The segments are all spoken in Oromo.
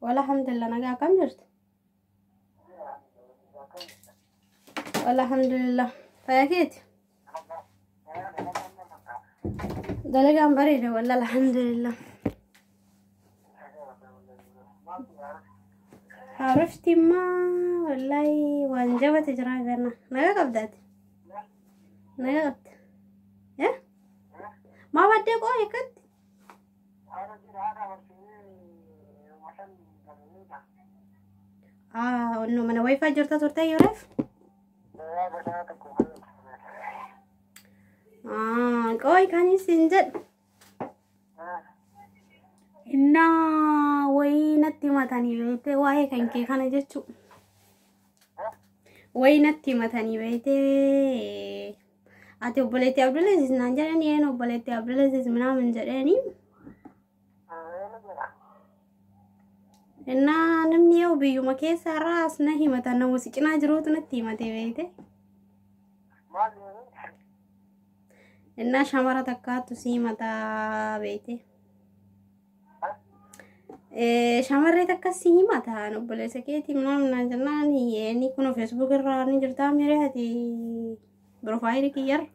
Wala hamdulillah nagaa akkam jirtu? Wala hamdulillah faya keeti? Dalagaan bareeda wala alhamdulillah. Haarofti immoo wallahi waan jabate jira ganna. Nagaa qabdaati? Nagaa qabda? Eh? Maa baddee qoo hikkatti? Ah, no, mana wifi jirta turte Yoreef? Ah, qoy kan isin jedhu. Innaa wayii natti himatanii beekte waa'ee kan kee kana jechuu. Wayii natti himatanii beekte Ati obboleettii Abdulaziz naan jedhan yeen obboleettii Abdulaziz minaamin jedheeni. Innaa namni yoo biyyuma keessa irraa as na himata nama si cinaa jiruutu natti himatee beekte. Innaa shamara takkaattu si himata beekte. Shamarree takka si hima ta'an obboleessa keetii maal naan jennaan inni kun feesbuuk irraa ni jirtaa miree ati piroofaayilii kiyyarra.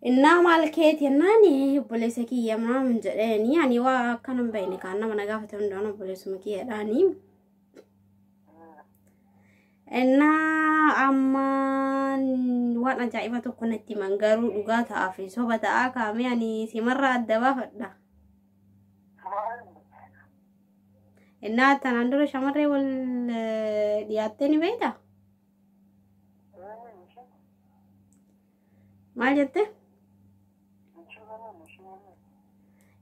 Innaa maal keeti jennaan obboleessa kiyya maal jedheeni ani waa akka nan bahine kaan nama na gaafate hundaan obboleessuma kiyyadhaani. Innaa ammaan waan ajaa'iba tokko natti himan garuu dhugaa ta'aa fi soba ta'aa kaamee ani simarraa adda baafadha. Maal? Innaa tanaan dura shamarree wal eh, dhiyaattee ni beekta? Eenyu ishee? Maal jette?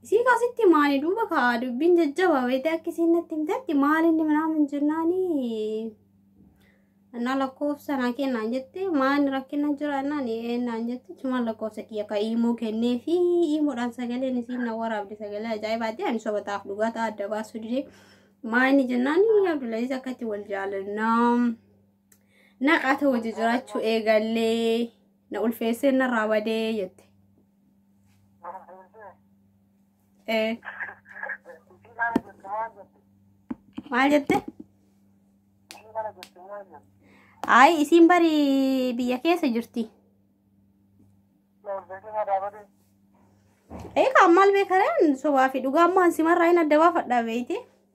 Isii kaasitti maani duuba kaa dubbiin jajjaba wayitee akka isiin natti himtetti maalinni minaa min jennaani annaa lakkoofsa naa kennaan jette maani rakkina jira annaan eennaan jette cumaan lakkoofsa kiyya ka iimoo kennee fi iimoodhaan sagaleen isiin na waraabde sagalee ajaa'ibaati ani soba taaf dhugaa ta'a adda baasuu didee maani jennaani abdulaziz akka itti wal jaalannaa. Naqaata wajji jiraachuu eegallee na ulfeessee narraa badee jette. Ee, Maal jette? Ayi isiin bari biyya keessa jirti. Eegaa maal beekareen sobaa fi dhugaa ammoo ansimarraa hin adda baafadhaa beeyte.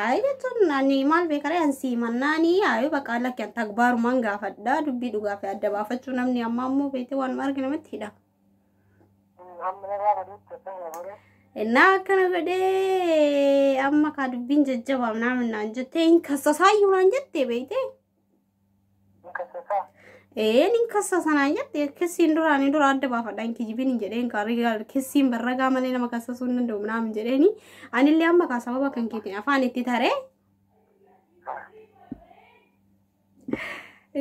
Ayi jechuun ani maal beekaree an siimannaani ayi baqaa lakki an tagbaarumaan gaafadha dubbii dhugaa fi adda baafachuu namni ammaa immoo beetee waan arge namatti hidha. Innaa akkana godhee amma kaa dubbiin jajjabaam naamin naan jettee hin kassasaayyuu naan jettee beektee. Ee nin kassa sanaan jette kissiin duraanii dura adda baafadha hin kijibin hin jedheen kaarigaa kissiin barragaa malee nama kassasuu hin danda'u naam hin jedheeni anillee amma kaa sababa kan keetiin afaan itti taree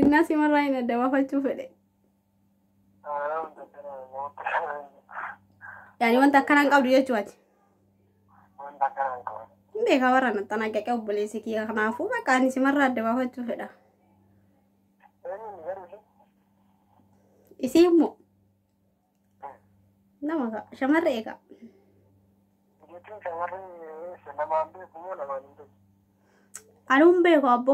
innaa simarraa hin adda baafachuu fedhe. Yaani wanta akkana hin qabdu jechuu ati. Hin beekaa warra nattan aggaqee obboleessi kiyya kanaafuu bakka ani simarraa adda baafachuu fedha. Isii immoo nama ka shamarree egaa. Ani hin beeku abbo.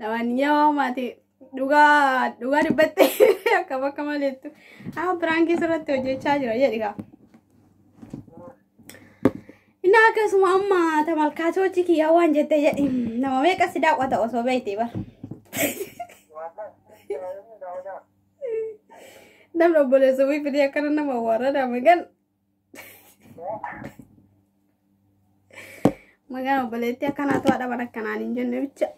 Lamanyaa maati dhugaa dhugaa dubbatte akka bakka maleettu amma biraankii sirratti hojjechaa jira jedhi kaa. Innaa akkasuma amma tamalkaatoochi kiyyaa waan jette jedhi nama meeqa si daawwata osoo beekte bara. Namni obboleessa wii fidee akkana nama warrada magan. Magaan obboleettii akkanaa to'adha mana akkanaan hin jenne bicha.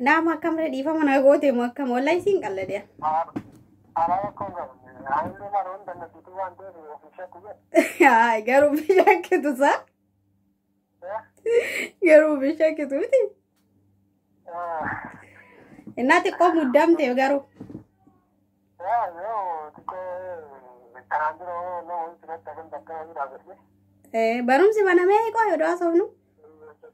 Naama akkam ree dhiifama na goote moo akkam wallahi siin qalladee. Haa garuu bishaan kitu saa. Garuu bishaan kitu miti. Innaa xiqqoo muddamte garuu. Eh, Barumsi banamee qooyi odoo haasofnu.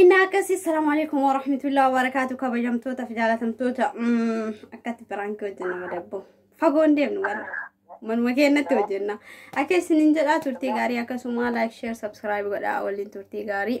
Inni akkasii salaamu alaikum wa rahmatullahi wa barakaatu kabajamtoota fi jaalatamtoota akkatti biraankii hojjenna madabbo fagoon deemnu warra manuma keenyatti hojjenna akka isiniin jedhaa turtii gaarii akkasuma laayik sheer sabskiraayib godhaa waliin turtii gaarii.